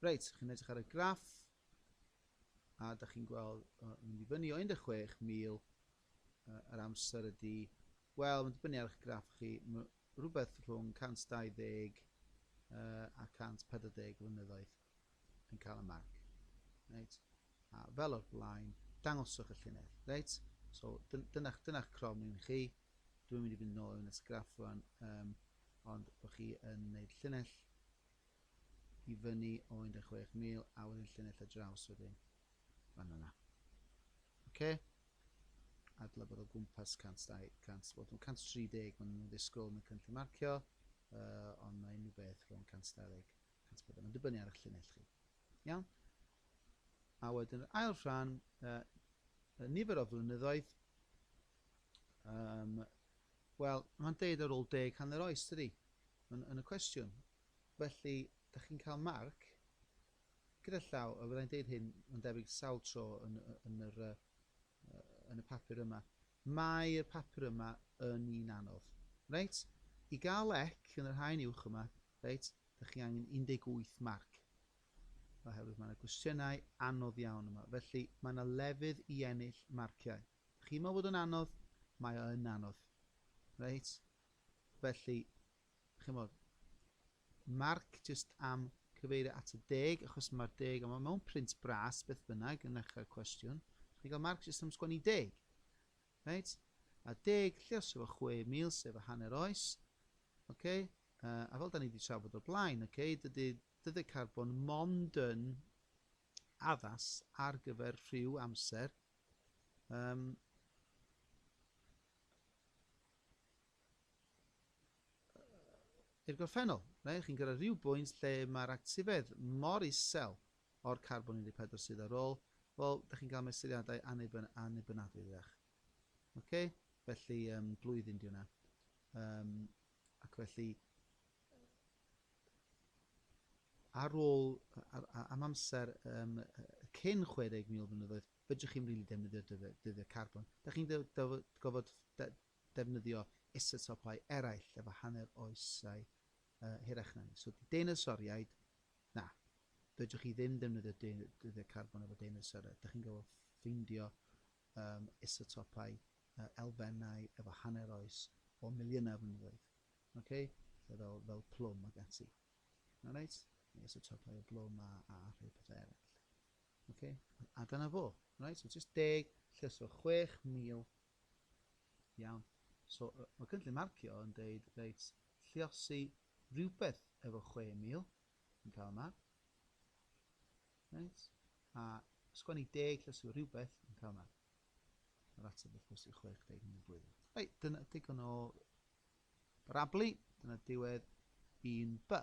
Reit, chi'n edrych ar y graff a da chi'n gweld uh, mynd i fyny o 16,000 uh, yr amser ydy, wel, mae'n dibynnu ar eich graff chi, rhywbeth rhwng 120 uh, a 140 flynyddoedd yn cael y marc. Reit? A fel o'r blaen, dangoswch y llunedd. Reit? So, dyna'ch dyna crom ni'n chi. Dwi'n mynd i fynd nôl yn ysgraff rwan, um, ond bod chi yn gwneud llinell i fyny o 16,000 a wedyn llinell y draws wedyn fan yna. Oce? Adla bod o gwmpas 100, 100, bod nhw'n 130, maen nhw'n ddisgwyl yn y cynllun marcio, uh, ond mae unrhyw beth rhwng 120, 140, mae'n dibynnu ar eich llinell chi. Iawn? A wedyn yr ail rhan, uh, y nifer o flynyddoedd, um, wel, mae'n deud ar ôl deg hanner oes, dydy? Yn, yn y cwestiwn. Felly, da chi'n cael marc gyda llaw, a fyddai'n deud hyn, mae'n debyg sawl tro yn, yn, yr, yn y papur yma. Mae'r papur yma yn un anodd. Reit? I gael ec yn yr haen uwch yma, reit, da chi angen 18 marc. Oherwydd mae yna gwestiynau anodd iawn yma. Felly, mae yna lefydd i ennill marciau. Da chi'n meddwl bod yn anodd? Mae o yn anodd. Reit? Felly, chymod, marc jyst am cyfeirio at y deg, achos mae'r deg, ond mae mewn print bras beth bynnag yn ddechrau'r cwestiwn. Chi'n cael marc jyst am sgwennu deg. Right? A deg, lle os efo 6,000, sef y hanner oes. Okay? Uh, a fel da ni wedi trafod o'r blaen, okay, dydy dyddiau carbon mond yn addas ar gyfer rhyw amser um, i'r gorffennol, reit, chi'n gyrraedd rhyw bwynt lle mae'r actifedd mor isel o'r carbon 14 sydd ar ôl, wel, da chi'n cael mesuriadau anniben, annibynadwy, ddeach. OK? Felly, um, blwyddyn di hwnna. Um, ac felly, ar ôl, ar, am amser um, cyn 60,000 blynyddoedd, Fedrwch chi'm rili defnyddio dyddiau carbon. Dach chi'n gorfod defnyddio isotopau eraill efo hanner oesau hirach na ni. So deinosoriaid, na. Fedrwch chi ddim defnyddio dyddiau carbon efo deinosoriaid. Dach chi'n gorfod ffeindio isotopau elfennau efo hanner oes o miliynau o flynyddoedd. Oce? Fel, fel plwm ac ati. Alright? Neu isotopau o blwm a, a rhai pethau eraill. Ok, a dyna fo. Right, so just deg lle so 6,000. Iawn. So, mae cynllun marcio yn deud, reit, lliosi rhywbeth efo 6,000 yn cael yma. Right, a sgwennu deg lle so rhywbeth yn cael yma. Yr ateb wrth gwrs i 60 yn y blwyddyn. Reit, dyna digon o barablu, dyna diwedd un b.